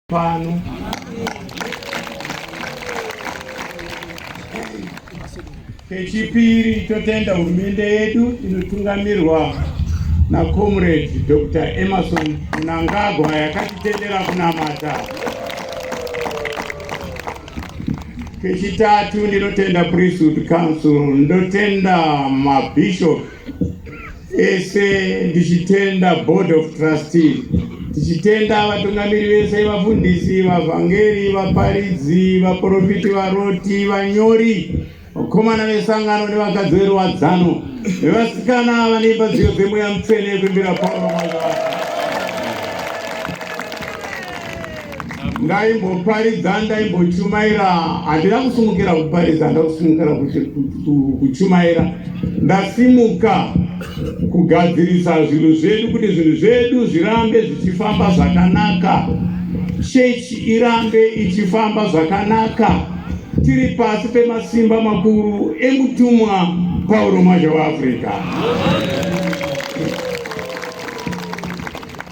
pano kechipiri totenda hurumende yedu inotungamirwa nacomrade dr emerson munangagwa yakatitendera kunamata kechitatu ndinotenda priesthood council ndotenda mabishop ese ndichitenda board of trustee tichitenda vatungamiri vese vafundisi vavhangeri vaparidzi vaprofiti varoti vanyori vakomana vesangano nevakadzi veruwadzano vevasikana vanoimba dziyo dzemweya mutsvene kuimbira pauro mwaka ndaimboparidza ndaimbochumaira handina kusumukira kuparidza ndakusumukira kuchumaira ndasimuka kugadzirisa zvinhu zvedu kuti zvinhu zvedu zvirambe zvichifamba zvakanaka chechi irambe ichifamba zvakanaka tiri pasi pemasimba makuru emutumwa pauro mazha weafrica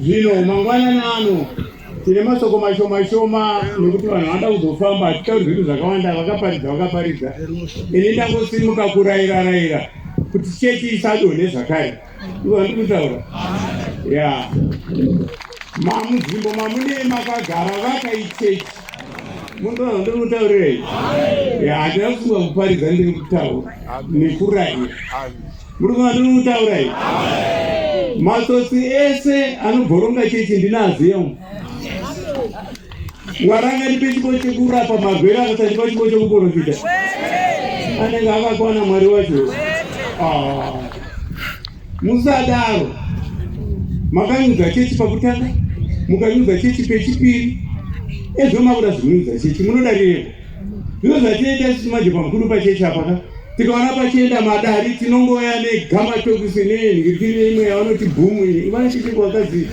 Zvino mangwanani ano tine masoko mashoma shoma nekuti vanhu vanoda kuzofamba hatitauri zvinhu zvakawanda vakaparidza vakaparidza ini ndangosimuka kuraira raira kuti chechi isadone zvakare ndikutaura ya mamunzvimbo mamune makagara vakaichechi mundoa ndiri kutaurirei handina kufunga kuparidza ndiri kutaura nekuraira Muri kuva ndiri kutaura iyi? Matsotsi ese anobhoronga chechi ndinaziya umu. Mwari angandipe chipo chekurapa magwere akasandipa chipo chekuporofita. Anenge akakwana Mwari wacho. Ah. Musadaro. Makanyudza chechi pakutanga, mukanyudza chechi pechipiri. Ezvo makuda zvinudza chechi munoda rirepo. Zvino zvatinoita isusu manje pamukuru pachechi apa ka tikaona pachienda madari tinongoya negamatokusi nenhirikiri imwe yavanoti bhumu iyi ivanachitiko wakazii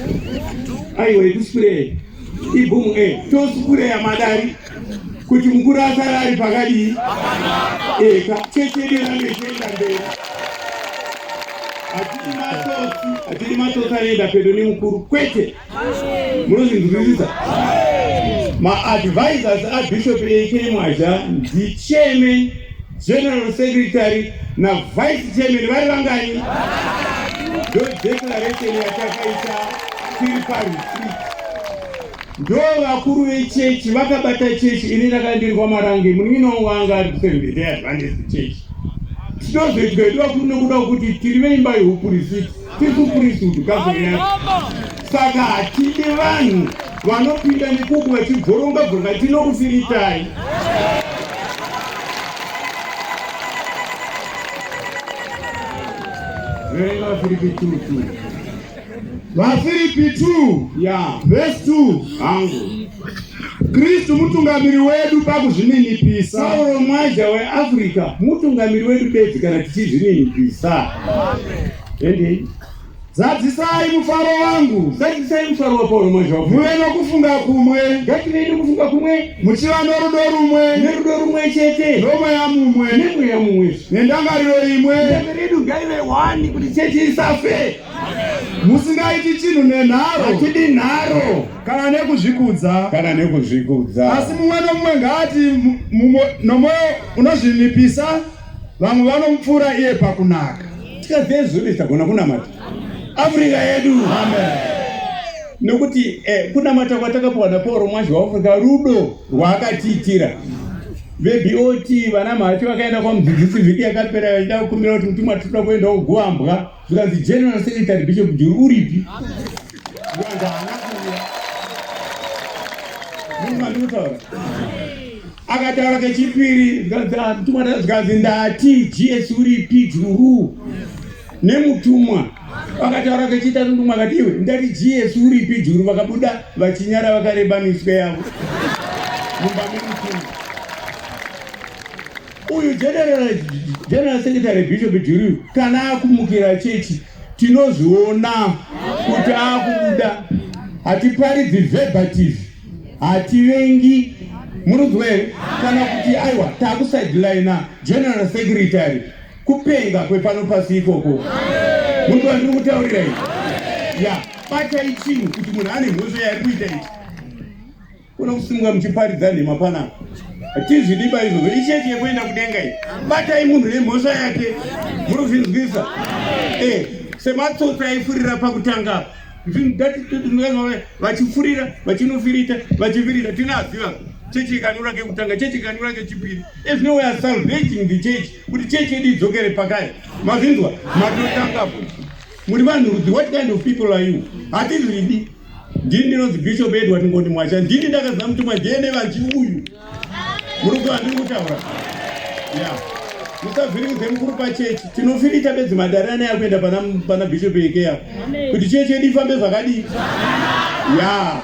aiwa ikusikurei ibhumu e eh, tosipureya madari kuti mukuru asare ari pakadii eka eh, chechederanechenda mberi hatidi matsotsi hatidi matsotsi anoenda pedo nemukuru kwete munozvinzwisisa maadvisors abishop ekemwazha ndichairman general secretary navice chairman vari vangani ndodeclaration yatakaita tiri paretreat ndo vakuru vechechi vakabata chechi ini ndakandirwa marange munino wanga ari kusevendeadvantage chechi tinozoitwa yedu vakuru nekuda kuti tiri veimba yehupurisiti tiri kukurisa kuti gavhuriyati saka hatidi vanhu vanopinda nekuku vachibvoronga bvoronga tinokufiritai verenga vafiripi two two vafiripi two ya vhesi two hangu Kristu mutungamiri wedu pakuzvininipisa. Sauro Mwaja weAfrica mutungamiri wedu bedzi kana tichizvininipisa. Endei. Zadzisai mufaro wangu. Zadzisai mufaro waPauro Mwaja. Muve nokufunga kumwe. Ngative nokufunga kumwe. Muchiva norudo rumwe. Nerudo rumwe chete. Nomweya mumwe. Nemweya mumwe. Nendangariro imwe. Ndangariro yedu ngaive wani kuti chechi isafe. musingaiti chinhu nenharo hatidi nharo kana nekuzvikudza kana nekuzvikudza asi mumwe nomumwe ngaati nomwoyo unozvinipisa vamwe vanomupfuura iye pakunaka tikazezuri tagona kunamata afrika yedu amen nokuti eh, kunamata kwatakapiwa napauro mwazi waafrika rudo rwaakatiitira vebot vana mhacho vakaenda kwamudzidzisi vhiki yakapera vachida kukumbira kuti mutumwa tikuda kuenda kuguambwa zvikanzi general secretary bishop juru uripi zvikanzi haana kuuya munhu mandinotaura akataura kechipiri zvikanzi ah, mutumwa zvikanzi ndati gs uripi juru nemutumwa vakataura kechita ndumwa kati iwe ndati jesu uripi juru vakabuda vachinyara vakareba miswe yavo mumba memutumwa Uyu general general secretary Bishop Juriyu kana akumukira chechi tinozviona kuti akubuda hatiparidzi verbative hativengi murudzwa here kana kuti aiwa takusidelina general secretary kupenga kwepano pasi ikoko munhu wandiri kutaurira i ya batai chinhu kuti munhu ane mhosva yaari kuita ichi Kuno kusungwa muchiparidza nhema panapa. Tizvidiba izvozvo. Ichechi yekuenda kudenga iyi. Batai munhu nemhosva yake. Muri kuzvinzwisa? Eh, sematsotsi aifurira pakutanga apa. Vachifurira, vachinofirita, vachifirita. Tinaziva. Chechi ikanura kekutanga, chechi ikanura kechipiri. As no way as salvating the church. Kuti chechi yedu idzokere pakaya. Mazvinzwa? Matotanga futi. Muri vanhu rudzi, what kind of people are you? Hatizvidi. Ndini ndinonzi Bishop Edward Ngoni Mwacha, ndini ndakadza mutumwa DNA vanti uyu. Muri kuziva ndiri kutaura? Yeah. Musavhiringidze mukuru pachechi. Tinofirita bedzi madare ane akuenda pana pana Bishop Ekeya. Kuti chechi yedu ifambe zvakadii? Yeah.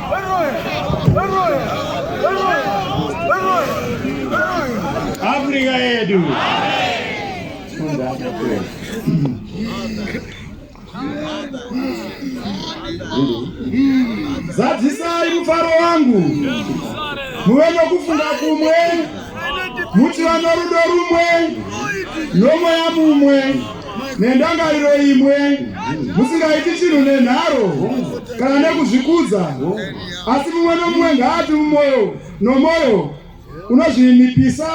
Afrika yedu. Zadzisai mufaro wangu muve nokufunga kumwe muti vanorudo rumwe nomweya mumwe nendangariro imwe musingaiti chinhu nenharo kana nekuzvikudza asi mumwe nomumwe ngaati mumwoyo nomwoyo unozvininipisa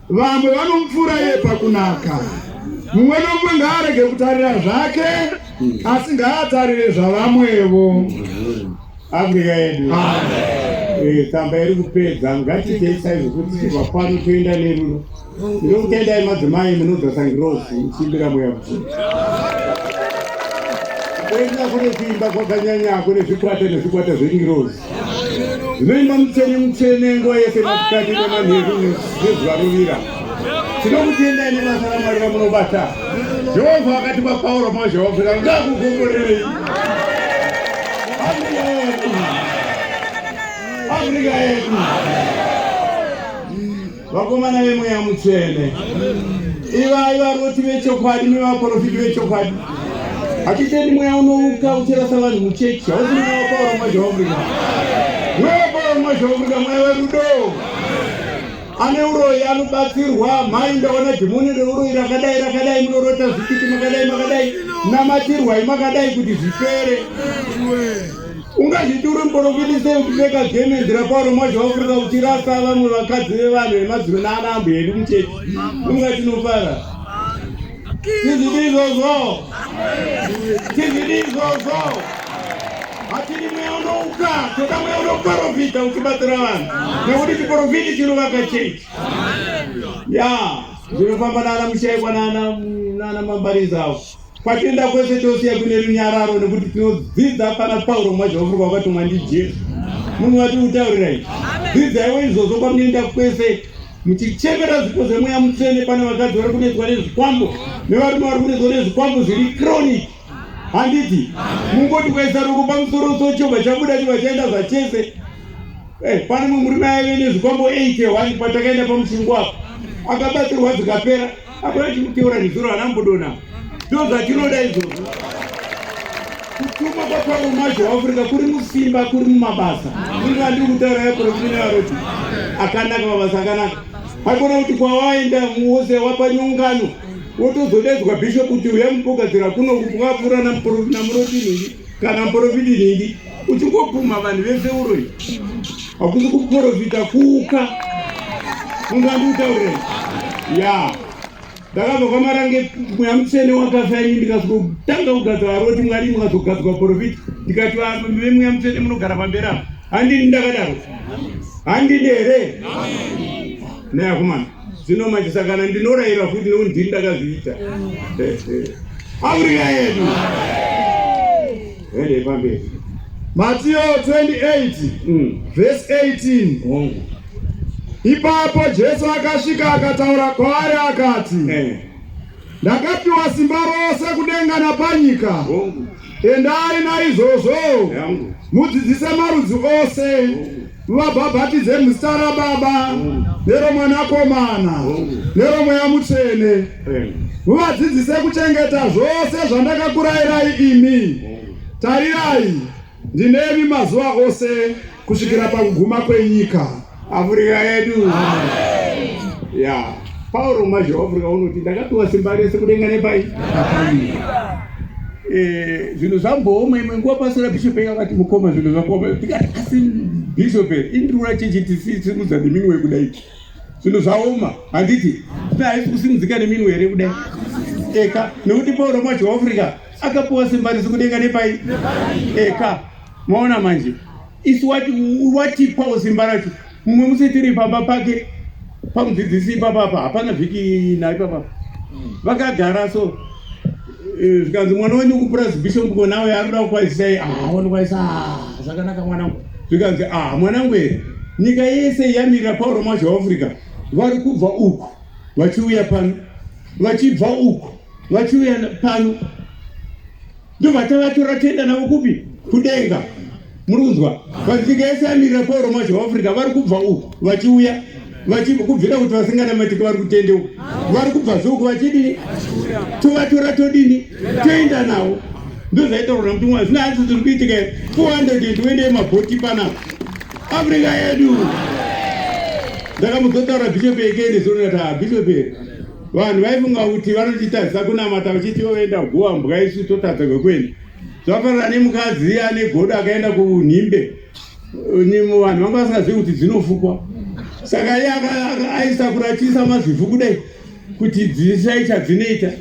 vamwe vanomupfuura iye pakunaka mumwe nomumwe ngaarege kutarira zvake asi ngaatarire zvavamwevo afrika yedu eh, tsamba iri kupedza ngatiitei saizvo kuti tibva pano toenda nerudo Ndinokutendai madzimai munodzosa ngirozi ichimbira mweya mutsvene. Kuenda kune kuimba kwakanyanya kune zvikwata nezvikwata zvengirozi zvinoimba mutsvene mutsvene nguva yese masikati nemanheru nezuva rovira. Tinokutendai nebasa raMwari ramunobata. Jehovha akati kwaPauro mazhawafira ngakukomborerei. Afrika yedu. Afrika yedu. vakomana vemweya mutsvene ivai varoti vechokwadi nevaprofiti vechokwadi hatitendi mweya unouka uchirasa vanhu muchechi hausi mweya wapaura mwazhaofrika mweya wapaura mwazhaofrika mweya werudo ane uroyi anobatsirwa mhai ndaona dhimoni reuroyi rakadai rakadai munorota zvikiti makadai makadai namatirwai makadai kuti zvipere ungazviti uri muporofiti sei uchipfeka gemendi raparo mwacho wakurira uchirasa vamwe vakadzi vevanhu vemadziro naana ambo hedu muchechi unga tinofara tizvidi izvozvo tizvidi izvozvo hatidi mweya unouka toda mweya unoporofita uchibatsira vanhu nekuti chiporofiti chinovaka chechi ya zvinofamba naana mushaikwa naana mambarizi avo Kwatenda kwese tosiya kune runyararo nekuti tinodzidza pana Pauro mwazvaofurwa wakatumwa ndiJesu. Munhu wati utaurirai. Dzidzaiwo izvozvo kwamunoenda kwese muchichemera zvipo zvemweya mutsvene pane vakadzi vari kunetswa nezvikwambo nevarume vari kunetswa nezvikwambo zviri chronic handiti mungoti kuisa ruko pamusoro so chobva chabuda chobva chaenda zvachese eh, pane mumwe murume aive nezvikwambo 8 wani patakaenda pamushingo apo akabatsirwa dzikapera Hakuna chinoteura nezuro ana mbudona. Ndozo atinoda izvozvo. Kutuma kwa Pavo Majo waAfrica kuri musimba kuri mumabasa. Ndiri vandiri kutaura ya Profina Aroti. Akanaka mabasa akanaka. Hakuna kuti kwawaenda muoze wapa nyongano. Wotozodedzwa bishop kuti uya mupogadzira kuno kupwa pfura na muroti nini kana mporofiti nini. uchingobvuma vanhu vese uroi hakusi kuporofita kuka munhu andiutaurei ya ndakabva kwamarange mweya mutsvene wakafa ini ndikazotanga kugadza varoti mwari mukazogadzwa porofita ndikati vemweya mutsvene munogara pamberi apo handini ndakadaro handini here neakomana zvino manje sakana ndinorayira futi nekuti ndini ndakazviita afrika yedu Endei pamberi. Matio 28 mm. verse 18. Hongu. Ipapo Jesu akasvika akataura kwaari akati eh. Ndakapiwa simba rose kudenga napanyika. Hongu. Endai naizvozvo. Hongu. Mudzidzise marudzi ose. Hongu. Muvabhabhatidze muzita raBaba neromwanakomana neromweya mutsvene. Muvadzidzise kuchengeta zvose zvandakakurayirai imi. Tarirai, ndinemi mazuva ose kusvikira pakuguma kwenyika. Afurika yedu. Amen. Yeah. Pauro mazhou Afrika unoti ndakapiwa simba rese kudenga nepai eh, zvinhu zvambooma imwe nguva pasira bishop eka vati mukoma zvinhu zvakuoma tikati asi bishop indirura chechi tisimudza neminwe kudai zvinhu zvaoma handiti ti haisi kusimudzika neminwe here kudai eka nekuti pauro mazhou Afrika akapiwa simba rese kudenga nepai eka Maona manje isu wati watipawo simba racho mumwe musi tiri pamba pake pamudzidzisi ipapa apa hapana vhiki nayo ipapa vakagara so eh, zvikanzi mwana wenyu kupurazi bishop ngo nawe anoda kukwazisa ye aona kwaisa ah, zvakanaka mwanangu zvikanzi ah mwanangu here nyika yese yamirira pauro mazho weafrica vari kubva uku vachiuya pano vachibva uku vachiuya pano ndobva tavatora toenda navo kupi kudenga muri kunzwa vadzika yese amirira pauro macho vaafrica vari kubva uku vachiuya kubvira kuti vasinganamatiki vari kutende uku vari kubva zouku vachidini tovatora todini toenda navo ndozvaita kurona kuti mwari zvina asi zviri kuitika 400 uende yemabhoti panapa africa yedu ndakamuzotaura bishop ekene zona ta bishop vanhu vaifunga kuti vanotitadzisa kunamata vachiti voenda guva mbwa isu totadza kwekuenda zvakafanana nemukadzi ane godo akaenda kunhimbe vanhu vanga vasingazivi kuti dzinofukwa saka iye aisa kuratisa mazivhu kudai kuti dzisai chadzinoita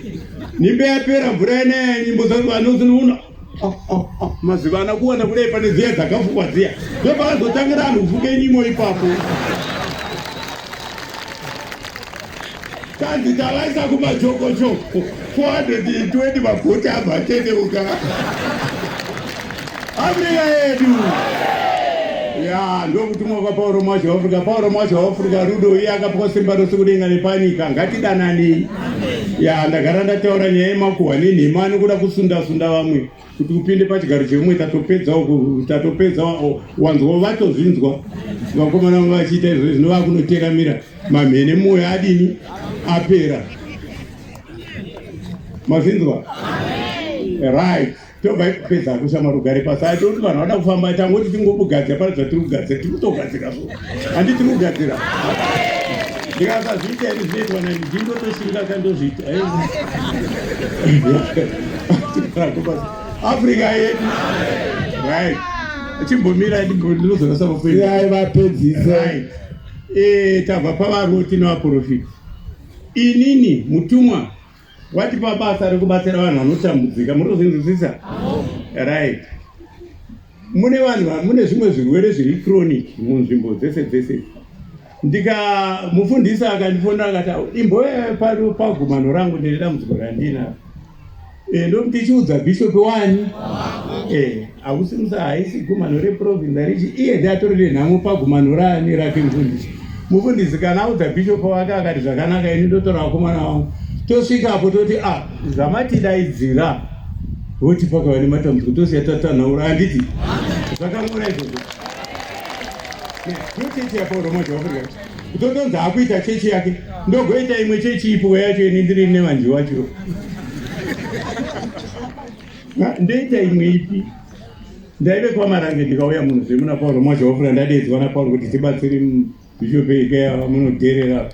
nhimbe yapera mvura yanaya nyimbo dzaa Oh, oh, oh. mazuva ana kuona kudai pane dziya dzakafukwa dziya ndopakazotangira anhu kufuka inyimo ipapo kanzi tavaisa kumajokojoko 420 magoti abva atendeuka afrika yedu ya ndokutumwa kwapauro mwazha waafrika pauro mwazha waafrika rudo iye akapiwa simba rose kudenga nepanyika ngatidananei ya ndagara ndataura nyaya yemakuhwa nenhema anokuda kusunda sunda vamwe kuti upinde pachigaro chevamwe tatopedza tatopedza wanzwa vatozvinzwa vakomana vamwe vachiita izvo zvino vakunoteramira mamhene mwoyo adini apera mazvinzwa right tobva ipedza kushamwari ugare pasi ai toti vanhu vada kufamba tangoti tingokugadzira pane zvatiri kugadzira tiri kutogadzira so handi tiri kugadzira ndikasazviita ini zvinoitwa nani ndindotoshinga ka ndozviita africa yedu right chimbomira ndinozorasa vapedzi vapedzisai eh, tabva pavaroti nevaprofita inini mutumwa Watipa basa rekubatsira vanhu vanotambudzika, murikuzvinzwisisa? Right. Mune vanhu, mune zvimwe zvirwere zviri chronic munzvimbo dzese dzese. Ndika mufundisa akandifonera akati imbo pano pagumano rangu ndine dambudziko randina. Eh, ndokuti chiudza bishop wani? Eh. Hausi musa haisi gumano reprovince arichi iye ndi atori nenhamo pagumano raani rake mufundisi. Mufundisi kana audza bishop wake akati zvakanaka ini ndotora vakomana vangu tosvika apo toti ah zvamatidaidzira voti pakava nematambudziko tosiya tatanhaura handiti zvakangora izvozvo ndochechi yapauroma zvaafrika kutotonzi akuita chechi yake ndogoita imwe chechi ipo yacho ini ndiri nevanji wacho ndoita imwe ipi ndaive kwamarange ndikauya munhu zvemuna pauro mwacho wafura ndadedzwa napauro kuti tibatsiri bishop ikeya vamunodherera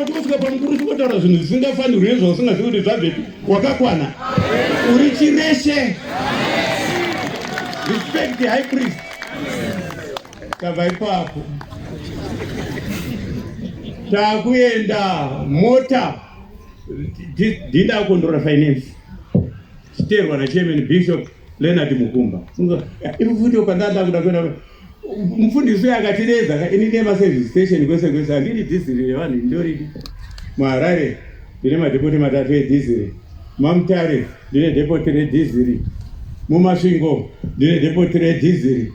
ndotiakumusika pamukuru tikotaura zvinhu zvisingafanirwi nezvausingazivi kuti zvabvepi wakakwana uri chireshe respect the high priest tava ipapo takuenda mota dhinda akondora finance chiterwa nachairman bishop leonard mukumba ivo futi pandanda kuda kuenda mufundisi uyo akatireza ka ini nema service station kwese kwese handiri dhiziri revanhu ndoridi muharare ndine madhepoti matatu edhiziri mamutare ndine dhepoti redhiziri mumasvingo ndine dhepoti redhiziri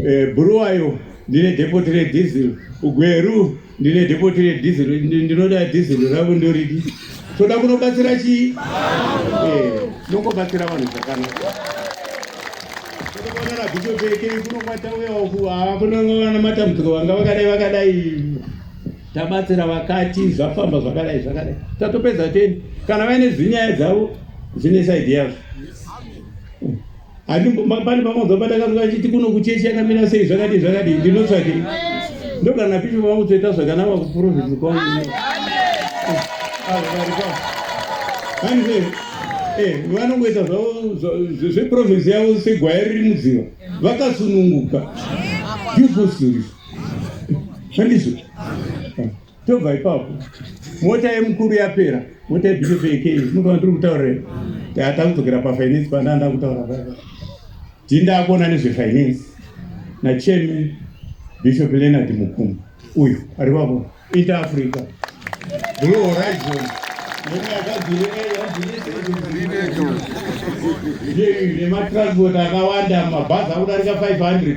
eh, bhuruwayo ndine dhepoti redhiziri ugweru ndine dhepoti redhizero ndinoda dhizero ravo ndoridi toda kunobatsira chii eh, nongobatsira vanhu zvakanaka tonoonana bhisho pekei kunokwatauyawo kuhaa kunongovana matambudziko vanga vakadai vakadai tabatsira vakati zvafamba zvakadai zvakadai tatopedza teni kana vaine zvinyaya dzavo zvine saidi yazvo Ati ma- pane pamwe baba ndakazwa achiti kuno kuchechi yakamira sei zvakadii zvakadii ndinotsvake ndogana pipi vangu toita zvakanaka kuprofiti kwangu hanzi eh, vanongoita zvavo zva- zve- zveprovinsi yavo segwaya riri mudziva vakasununguka beautiful stories handizvo tobva ipapo mota yemukuru yapera mota yebishop yekei mukaona tiri kutaurira tata kudzokera pafinance pandaa ndaa kutaura paa ndii ndaa kuona nezvefinance nachairman bishop leonard mukumu uyu ari papo inter africa blue horizon nematransport akawanda mabhazi akudarika 500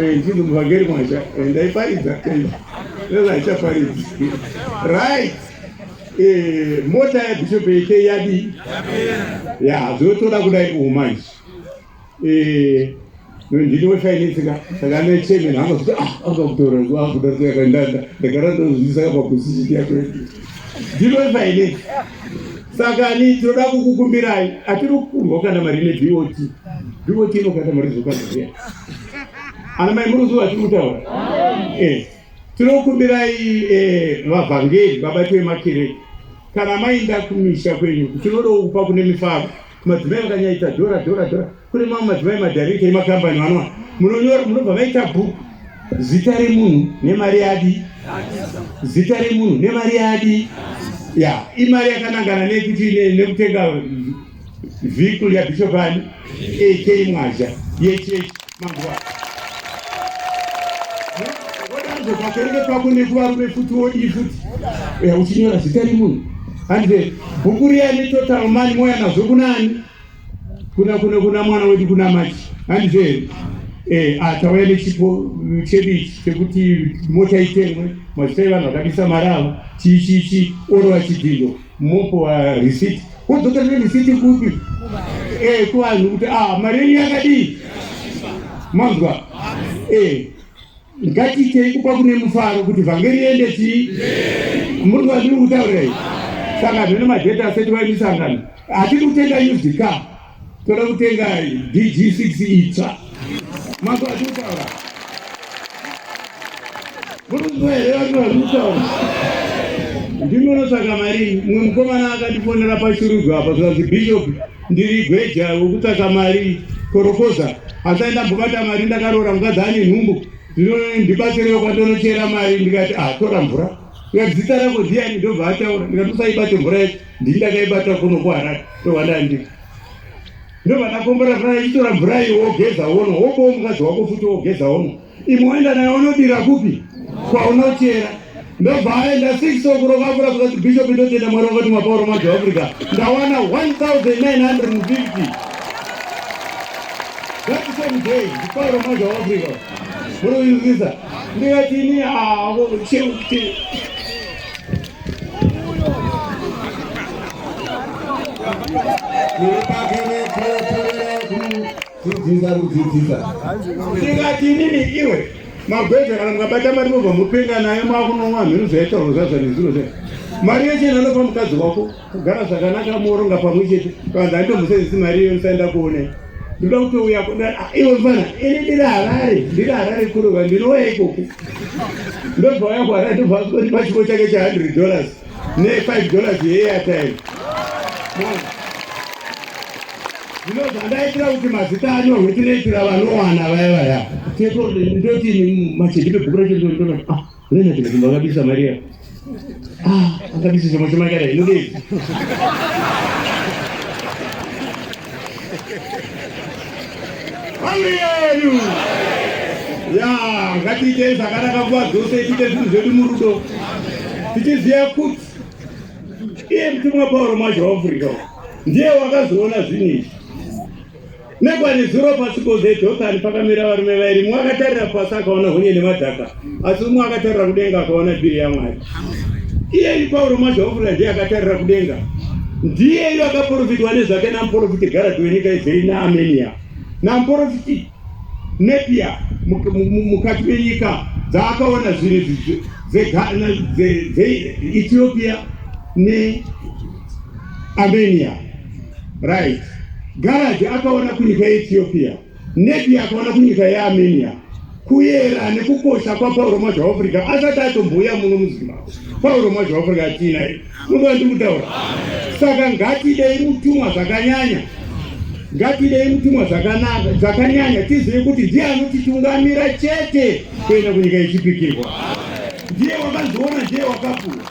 Eh, ndiri muvhangeri mwacha eh, ndaiparidza eh, ndozaichaparidzi right mota yabishop yete yadi ya zvotoda kudai kuhuma izvi ndini wefinance ka saka ane chairman angakuti ah akakutora akudarika yakandanda ndakara ndozvizisaka paposition yako ndini wefinance saka ni tinoda kukukumbirai atiri kukurwa kana mari ine bot bot inokata mari zvokazoea ana mai muruzuva tiri kutaura eh, tinokumbirai eh, vavhangeri vabati vemakirei kana mainda kumisha kwenyu tinodawo kupa kune mifaro madzimai vakanyaita dhora dhora dhora kune mamwe madzimai madharekta emakambani vanoa munonyora munobva maita bhuku zita remunhu nemari yadi zita remunhu nemari yadi ya imari yakanangana nekuti nekutenga vhikul yabishop ani ak mwazha yechechi manguva pakereke pako nekuvarume futi wodii futi uchinyora zita remunhu handive bhuku riya netotal mani moya nazvo kunaani kuna kuna kuna mwana wedu kuna machi handizve eh atauya nechipo chedu ichi chekuti mota itengwe mazita evanhu vakabisa mari avo chii chii chii orova chidhindo mopowa risiti wodzokera nerisiti kupi eh kuvanhu kuti ah mari yenyu yakadii manzwa eh Ngatiitei kupa kune mufaro kuti vhangeri iende chii? Muri kwandiri kutaura iyi? Saka zvino madheta asati vaimisangano hatiri kutenga used car, toda kutenga DG6 itsva. Mako atiri kutaura muruzivo here vanhu vari kutaura ndinonosaka marii mumwe mukomana akandifonera pashurugwa apa zvikanzi bishop Ndiri gweja wekutsvaka mari korokoza hasai ndambobata mari ndakaroora mukadzi ane nhumbu zvino ndibatsirewo kwandonochera mari ndikati atora ah, mvura ndikati zita rako ndiani ndobva ataura ndikati usaibate mvura yacho ndii ndakaibata kuno kuharare ndovandandipa ndobva ndakombora fana ichitora mvura iyo wogeza wono wobowo mukadzi wako futi wogeza wono Imoenda nayo unodira kupi kwaunochera ndobva aenda six okurovavura kuzati bishop ndotenda mwari wakati mapauro majo africa ndawana 1950 that same day ndipauro majo africa muroizisa ndikatini avo ah, cheuti Thank you. Dzidzisa kudzidzisa. Tikati inini iwe magweja kana mukabata mari mobva mupenga nayo makunonwa mhiri zvaitaurwa zvazva nezviro zvayo. Mari yese inonopa mukadzi wako kugara zvakanaka muoronga pamwe chete vanzi andomusenzisi mari iyo ndisaenda kuone. Ndinoda kuti uya ah, iwe mfana ini ndiri harare ndiri harare kurova ndinouya ikoku ndobva uya kuharare ndobva ndipa chiko chake cha 100 dollars ne 5 dollars yeairtime zvino zvandaitira kuti mazita anyorwe tinoitira vanowana vaya vaya ndoti machedi pebhuku racho ndinoona ah lena tinokumba akabisa mari ya ah akabisa chomwe chomakada inodei ya ngatiitei zvakanaka nguva dzose tiite zvinhu zvedu murudo tichiziva kuti iye mutumwa pauro mwacho waafurika ndiye wakazoona zvinhu izvi nekwane zuro pasi koze jotani pakamira varume vairi mumwe akatarira pasi akaona hunye nemadhaka asi umwe akatarira kudenga akaona bhiri yamwari iyeyu pauro mazvaofura ndiye akatarira kudenga ndiyeyu akaprofitwa nezvake namuprofiti garadhi wenyika izeri naamenia namuprofiti nepia mukati menyika dzaakaona zvinhu dzeethiopia neamenia right garadhi akaona kunyika yeethiopia Nebia akaona kunyika yeArmenia kuyera nekukosha kwaPauro Mwazha Africa asati atombouya muno muZimbabwe. Pauro Mwazha Africa atina iye munoa ndi kutaura. Saka ngatidei mutumwa zvakanyanya, ngatidei mutumwa zvakanaka zvakanyanya, tizive kuti ndiye anotitungamira chete kuenda kunyika yechipikirwa. Ndiye wakazoona, ndiye wakapuwa,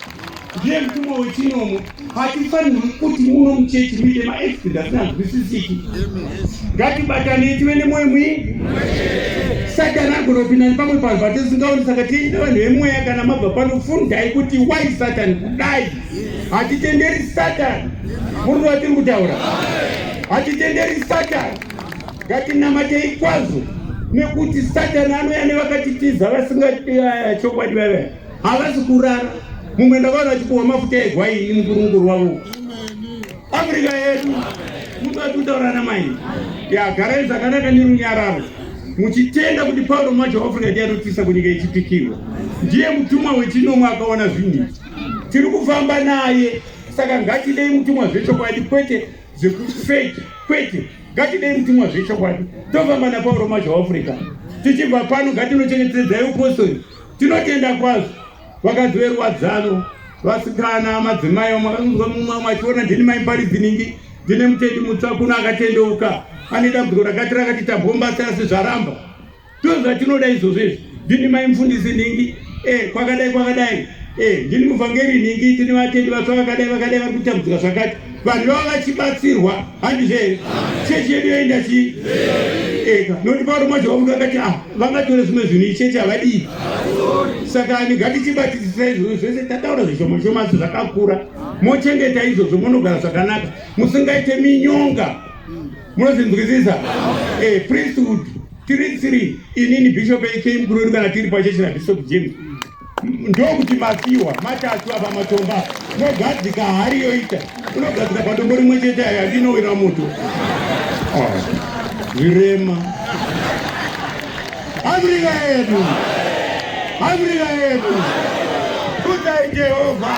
ndiye mutumwa wechinomo. hatifanirwi kuti muno muchechi muite maexped asinganzwisisiki ngatibatanei tive nemwoyo mwii satani agonopinda nepamwe panhu patisingaoni saka tiine vanhu vemweya kana mabva pano fundai kuti why satani kudai hatitenderi satani murudo watiri kutaura hatitenderi satani ngatinamatei kwazvo nekuti satani anouya nevakatitiza vasingati eh, chokwadi vavaa Havasi kurara. Mumwe ndavana achikuwa mafuta egwai ini mukuru mukuru wavo. Afrika yedu. Mtu atutaura na mai. Ya garai zakanaka ni runyararo. Muchitenda kuti Paulo mwacho Afrika ndiye anotisa kunyika ichipikirwa. Ndiye mutumwa wechinomwe akaona zvinhu. Tiri kufamba naye. Saka ngatidei mutumwa zvechokwadi kwete zvekufeki kwete ngatidei mutumwa zvechokwadi tofamba napauro mazha africa tichibva pano ngatinochengetedzai upostori Tinotenda kwazvo vakadzi veruwadzano, vasikana, madzimai vamwe vakanzwa mumwe vamwe achiona ndini mai Mbaridzinhingi ndine mutendi mutsva kuno akatendeuka ane dambudziko rakati rakati tambombasa asi zvaramba ndozvatinoda izvozvo izvi ndini mai mufundisi nhingi e kwakadai kwakadai e ndini muvhangeri nhingi tine vatendi vatsva vakadai vakadai vari kutambudzika zvakati vanhu vava vachibatsirwa handizvo here chechi yedu yaenda chii eka nokuti pauro mwacho vakuti vakati ah vangatore zvimwe zvinhu ichechi havadii saka ani ngatichibatisisa izvozvo zvese tataura zvishoma shoma asi zvakakura mochengeta izvozvo monogara zvakanaka musingaite minyonga munozvinzwisisa e priesthood tiri tsiri inini bishop ekm kurori kana tiri pachechi nabishop james ndokuti mapiwa matatu apa matomba mogadzika hari yoita unogadzika padombo rimwe chete ayo andinowira moto ah, zvirema afrika yedu afrika yedu kutai jehovha